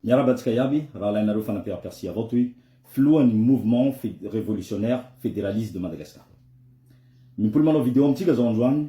Miarahaba antsika iaby raha alainareo fanampera persia avao toy filohan'ny mouvement revolutionnaire federaliste de Madagascar. Mimpoly manao video amintsika zao androany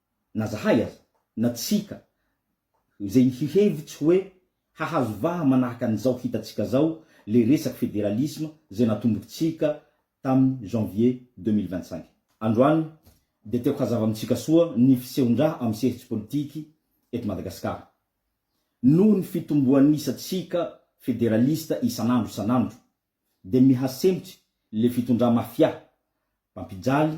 na zahay aza, na tsika, izay hihevitsy hoe hahazo vaha manahaka an'izao hitantsika zao le resaky federalisme zay natombokitsika tamin'ny janvier deux mille vingt cinq. Androany dia tiako hazava amintsika soa ny fisehoan-draha amin'ny sehatry politiky eto Madagasikara. Noho ny fitomboan'isantsika federalista isan'andro isan'andro dia miha-sempotsy le fitondrà mafia, mpampijaly,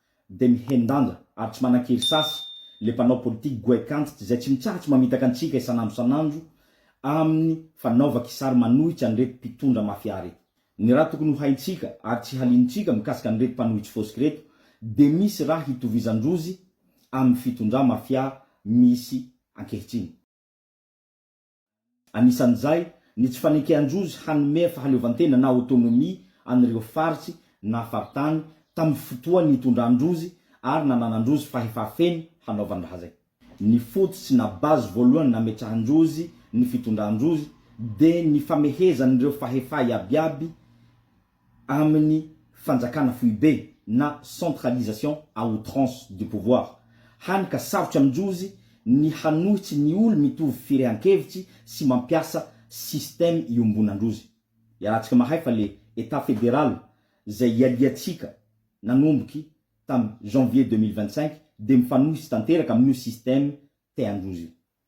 Dia mihen-danja ary tsy manan-kery sasy le mpanao politique goaikantitra izay tsy mitsahatra mamitaka antsika isan'andro isan'andro amin'ny fanaovan-kisary manohitra an'ireto mpitondra mafia reto. Ny raha tokony ho haintsika ary tsy haliantsika mikasika an'ireto mpanohitry fosky reto dia misy raha hitovizan-drozy amin'ny fitondra mafia misy ankehitriny. anisan'izay ny tsy fanekean-josy hanome fahaleovantena na autonomie an'ireo faritsy na faritany tamin'ny fotoan'ny itondran-drozy ary nananan-drozy fahefà feno hanaovany raha zay. Ny fototsy na base voalohany nametrahan-drozy ny fitondran-drozy dia ny famehezan'ireo fahefà iabiaby amin'ny fanjakana foibe na centralisation à outrance du pouvoir, hany ka sarotra amin-jozy ny hanohitsy ny olo mitovy firehan-kevitsy sy mampiasa système iombonan-drozy. Iarahantsika mahay fa le Etat Fédéral zay ialiantsika nanomboky tam janvier deux mille vingt-cinq de mifanohitsy tanteraka amin'io système tean-drozy io.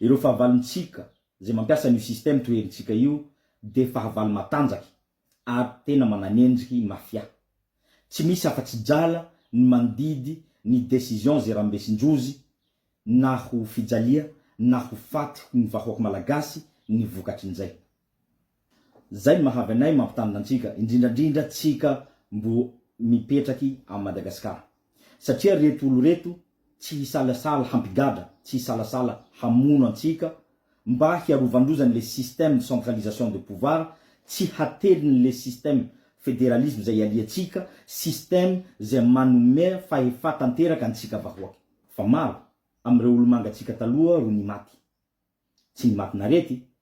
Ireo fahavalontsika izay mampiasa an'io système toherintsika io dia fahavalo matanjaky ary tena mananendriky mafia. Tsy misy afa-tsy drala ny mandidy ny décision izay rambesin-drozy na ho fijalia na ho faty ny vahoaka malagasy ny vokatrin'izay. Zay ny mahavy anay mampitandrina antsika indrindrandrindra tsika mbo mipetraky à Madagascar satria reto olo reto tsy hisalasala hampigadra tsy hisalasala hamono antsika mba hiarovandroza ny le système de centralisation de pouvoir tsy hately ny le système federalisme zay ialiantsika système zay manome fahefa tanteraka antsika vahoaka. Fa maro am reo olo manga tsika taloha ro nimaty tsy nimatin'arety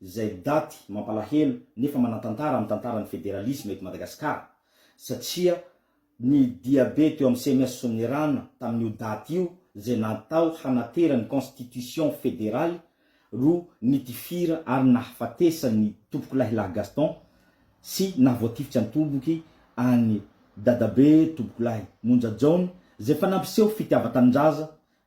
izay daty mampalahelo nefa manan-tantara amin'ny tantaran'ny federalisma eto Madagasikara, satria ny diabe teo amin'ny CMS Soanierana tamin'io daty io izay natao hanatera ny constitution federaly ro nitifira ary nahafatesan'ny Tompokolahilahy Gaston sy nahavoatifitra an-toboky an'i Dadabe Tompokolahy Monja Jaona izay efa nampiseho fitiavan-tanindraza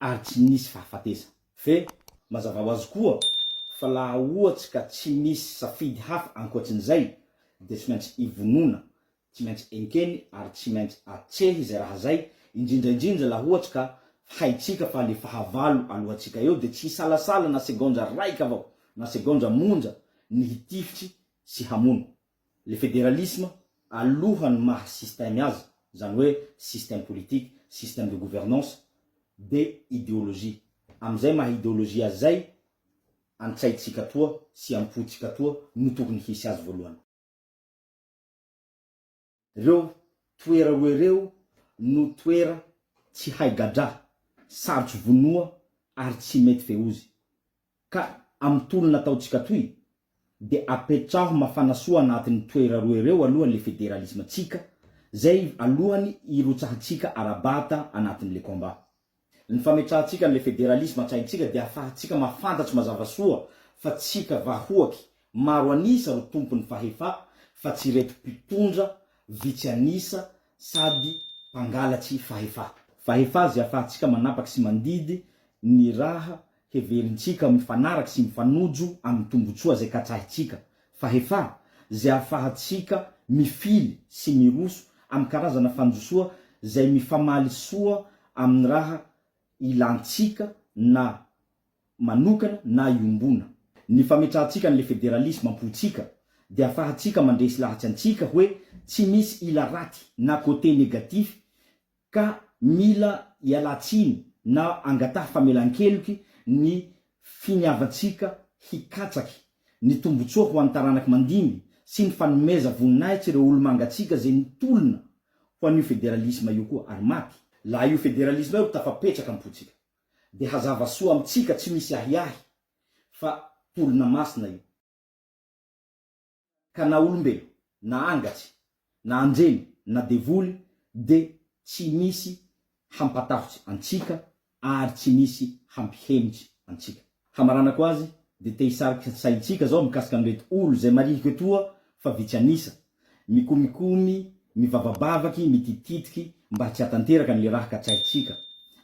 ary tsy nisy fahafatesana. Ve, mazava ho azy koa, fa laha ohatsy ka tsy misy safidy hafa ankoatsin'izay, dia tsy maintsy ivonona, tsy maintsy enkeny ary tsy maintsy atsehy izay raha izay, indrindra indrindra laha ohatsy ka haintsika fa le fahavalo alohantsika eo dia tsy hisalasala na segaondra raika avao na segaondra monja ny hitifitry sy hamono. Le federalisme alohany maha système azy, zany hoe système politique, système de gouvernance, de ideologie. Amizay maha ideologie azy zay antsaitsika atoa sy ampotsika atoa no tokony hisy azy voalohany. Ireo toera roa ireo no toera tsy hay gadra, sarotsy vonoa ary tsy mety feozy. Ka amin'ny tolona ataontsika toy dia apetraho mafana soa anatin'ny toera roa ireo aloha le federalisme-tsika zay alohany hirotsahantsika ara-bata anatin'le combat. Ny fametrahantsika an'ilay federalisma an-tsaintsika dia ahafahantsika mahafantatra mazava soa fa tsika vahoaky maro an'isa ro tompon'ny fahefa fa tsy ireto mpitondra vitsy an'isa sady mpangalatsy fahefa. Fahefa izay ahafahantsika manapaky sy mandidy ny raha heverintsika mifanaraka sy mifanojo amin'ny tombontsoa izay katsahitsika, fahefà, izay ahafahantsika mifily sy miroso amin'ny karazana fanjosoa izay mifamaly soa amin'ny raha ilantsika na manokana na iombona. Ny fametrahantsika an'ilay federalisma am-pontsika dia ahafahantsika mandresy lahatsy antsika hoe tsy misy ila raty na côté négatif ka mila ialatsiny na angataha famelan-keloky ny finiavantsika hikatsaky ny tombotsoa ho an'ny taranaky mandimby sy ny fanomeza voninahitsy ireo olo-mangatsiaka izay nitolona ho an'io federalisma io koa ary maty. Laha io federalisma io ro tafapetraka am-pontsika dia hazava soa amintsika tsy misy ahiahy fa tolona masina io. Ka na olombelo, na angatsy, na anjely, na devoly, dia tsy misy hampatahotse antsika ary tsy misy hampihemotse antsika. Hamaranako azy, dia te hisarika saintsika zao mikasika an'ireto olo zay marihiko etoa fa vitsy an'isa, mikomikomy, mivavabavaky, mitititiky mba tsy hatanteraka an'le raha katsahintsika,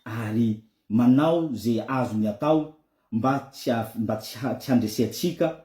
ary manao ze azony atao mba tsy mba tsy tsy handresentsika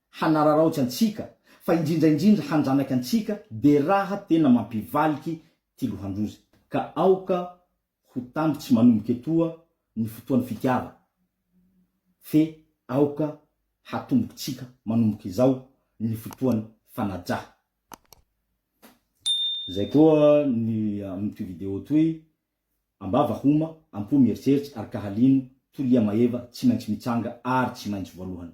hanararaotsy antsika fa indrindra indrindra hanjanaka antsika dia raha tena mampivaliky ty lohandroza ka aoka ho tamby tsy manomboka etoa ny fotoany fitiava fe aoka hatomboko tsika manomboka izao ny fotoany fanaja zay koa ny amin toy video toy ambava homa ampo mieritreritra ary ka halino tolia maeva tsy maintsy mitsanga ary tsy maintsy voalohany